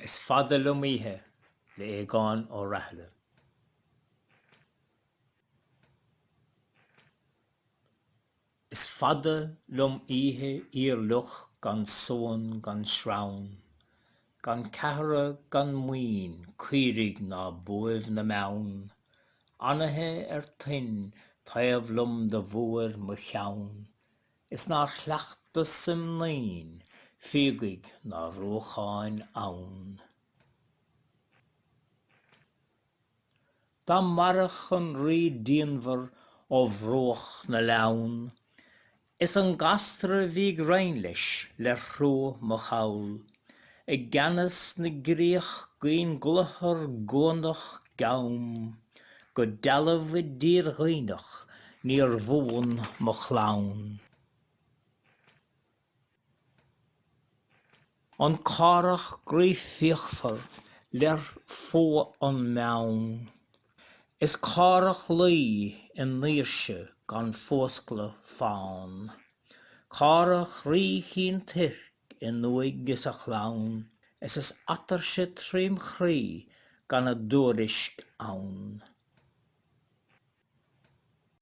Is fada liom oíche le Aogán Ó Rathaille. Is fada liom oíche fhíorfhliuch gan suan gan srann, Gan ceathra gan maoin, caoirigh ná buaibh na mbeann, Anaithe ar toinn taobh liom do bhuair mo cheann, Is nár chleachtas im naoin, fíogaigh ná ruacháin abhann. Dá maireadh an rí díonmhar ó bhruach na Leamhan, is an gasra a bhí ag roinn leis lér thruagh mo chall, i gceannas na gcríoch gcaoin gcluthar gcuanach gcam, go dealbh i dtír Dhuibhneach níor bhuan mo chlann. an Cárthach groí fíochmhar lér fuath an meang, is Cárthach Laoi i ndaoirse gan fuascladh fann, Cárthach rí Chinn Toirc in uaigh is a chlann, is is atuirse trím chroí gan a dtuairisc ann.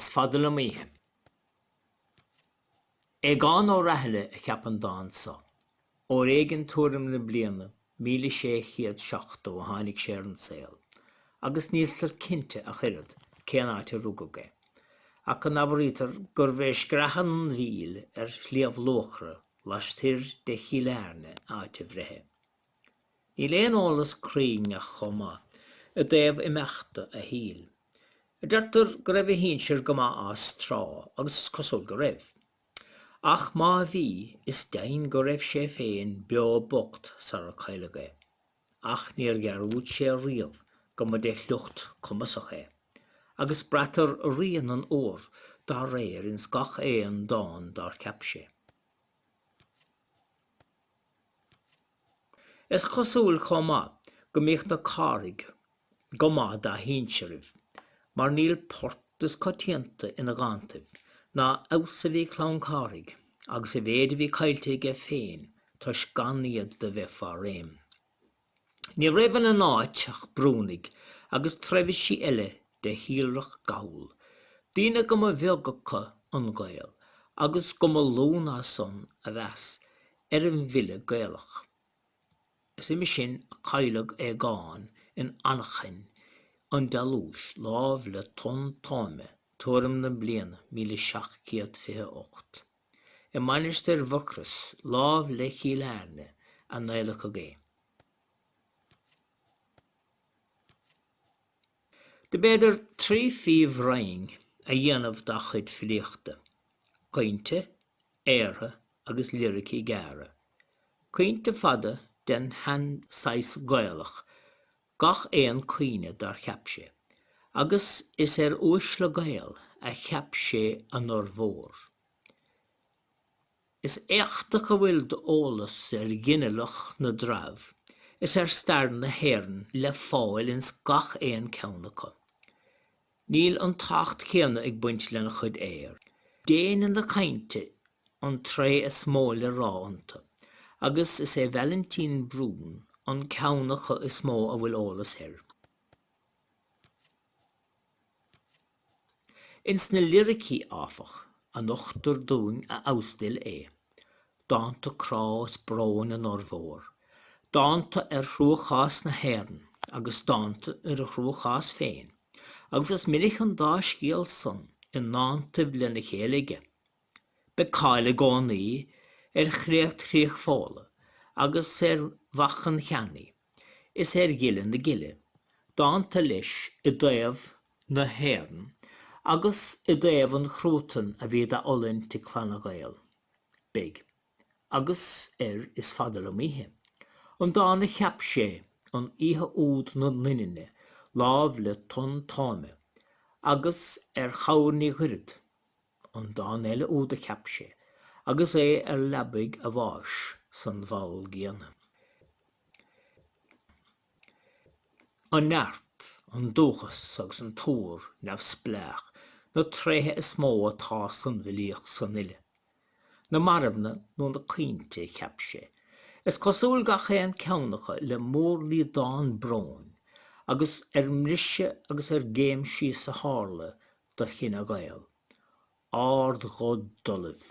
Is fada liom oíche. Aogán Ó Rathaille a cheap an dán so. Uair éigin tuairim na bliana míle sé chéad seachtó a tháinig sé ar an saol, agus níltear cinnte ach oiread cén áit a rugadh é, ach go n-abraítear gurbh é Screathan an Mhíl ar Shliabh Luachra lastoir de Chill Airne áit a bhreithe. Níl aon eolas cruinn ach chomh maith i dtaobh imeachta a shaoil. Deirtear go raibh a shinsir go maith as, tráth, agus is cosúil go raibh. Ach má bhí, is deimhin go raibh sé féin beo bocht sar a cailleadh é. Ach níor dhearúd sé riamh go mba de shliocht cumasach é, agus braitear rian an uabhair dá réir ins gach aon dán dár cheap sé. Is cosúil chomh maith go mbíodh na Cárthaigh go maith dá shínsearaibh, mar níl port is coitianta ina dhántaibh ná a fheabhas a bhí Clann Cárthaigh agus a mhéid a bhí caillte aige féin toisc gan iad do bheith fá réim. Ní raibh ina n-áit ach Brúnaigh agus treibhsí eile de shíolrach Gall, daoine go mba bheag acu an Gael agus go mba lú ná san a mheas ar an bhfile Gaelach. Is uime sin a cailleadh Aogán in anachain an dealúis láimh le Tonn Tóime tuairim na bliana míle seacht gcéad fiche a ocht. i Mainistir Mhucrois, lámh le Cill Airne, a n-adhlacadh é. Dob fhéidir trí phríomh-roinn a dhéanamh dá chuid filíochta, caointe, aortha agus liricí gearra. Caointe fada den shean-saghas Gaelach gach aon caoine dár cheap sé, agus is ar uaisle Gael a cheap sé a n-urmhór. Is éachtach a bhfuil d'eolas ar ghinealach na dtreabh is ar stair na hÉireann le fáil ins gach aon ceann acu. Níl an tábhacht céanna ag baint lena chuid aor, déine na cainte an tréith is mó le rá iontu, agus is é Vailintín Brún an ceann acu is mó a bhfuil eolas air. Ins na liricí, áfach, a nochtar dúinn a fheabhas d'fhile é, dánta crá is bróin a n-urmhór, dánta ar chruachás na hÉireann agus dánta ar a chruachás féin, agus is minic an dá scéal san i ndántaibh lena chéile aige. Beidh cáil i gcónaí ar Chréacht Chríoch Fódhla agus ar Mhac an Cheannaí is ar Ghile na Gile, dánta leis i dtaobh na hÉireann agus i dtaobh an chruatain a bhí dá fhulaingt ag clanna Gael. Beidh. Agus ar Is fada liom oíche, an dán a cheap sé an oíche úd na ndoininne lámh le Tonn Tóime, agus ar Chabhair Ní Ghoirfead, an dán eile úd a cheap sé agus é ar leabaidh a bháis san bhall gcéanna. An neart, an dúchas agus an t-uabhar neamhspleách na tréithe is mó atá san bhfilíocht san uile. Na marbhna nó na caointe a cheap sé, is cosúil, gach aon cheann acu le mórliodán bróin agus ar mbriseadh agus ar gcéim síos a tharla do chine Gael, Ard Dhoibh.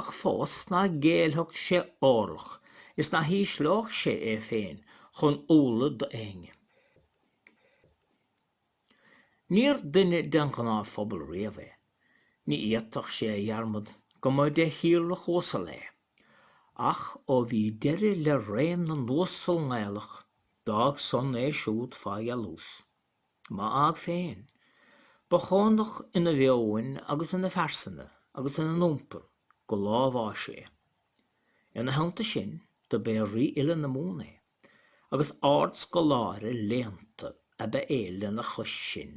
ach fós nach géillfeadh sé orlach is nach ísleodh sé é féin chun umhla d'éinne. Níor dhuine den ghnáthphobal riamh é. Ní fhéadfadh sé a dhearmad go mba de shíolrach uasal é. Ach ó bhí deireadh le réim na n-uasal nGaelach, d'fhág san é siúd fá dhealús. Má fhág féin, ba chónach ina mheoin agus ina phearsana agus ina n-iompar go lá a bháis é. Ina theannta sin, dob é rífhile na Mumhan é, agus ardscoláire léannta ab ea é lena chois sin.